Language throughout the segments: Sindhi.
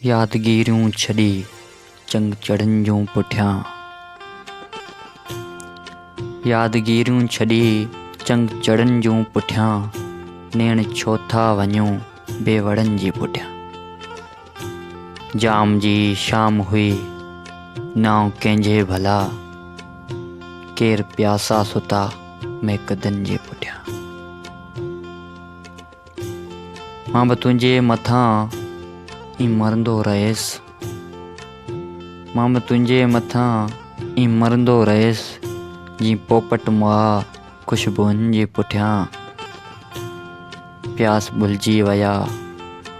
يادگيريون ڇڏي چنگ چڙهن جون پٺيان. يادگيريون ڇڏي چنگ چڙهن جون پٺيان، نيڻ ڇو ٿا وڃو بي وڙن جي پٺيان. جام جي شام هئي نانء ڪنهنجي ڀلا، ڪير پياسا ستا ميڪدن جي پٺيان. مان به تنهنجي مٿان ئي مرندو رهيس مان به تنهنجي مٿان ئي مرندو رهيس جي پوپٽ مئا خوشبوئن جي پٺيان پياس ڀلجي ويا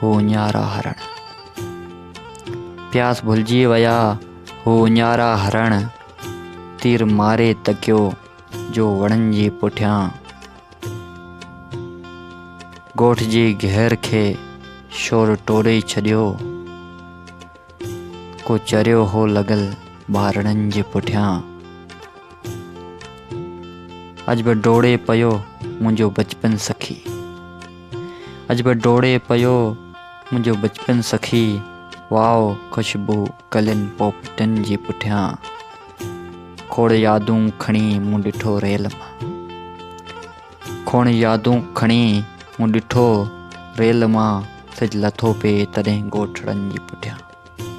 هو اڃارا هرڻ پياس ڀلجي ويا هو اڃارا هرڻ تير ماري تڪيو جو وڻن جي پٺيان ڳوٺ جي گهر کي شور ٽوڙي ڇڏيو. ڪو چريو هو لڳل ٻارڙن جي پٺيان. اڄ به ڊوڙي پيو منهنجو بچپن سخي. اڄ به ڊوڙي پيو منهنجو بچپن سخي. واء خوشبو. ڪلين پوپٽن جي پٺيان کوڙ يادون کڻي مون ڏٺو ريل مان کوڙ يادون کڻي مون ڏٺو ريل مان سج لٿو پئي تڏهن ڳوٺڙن جي پٺيان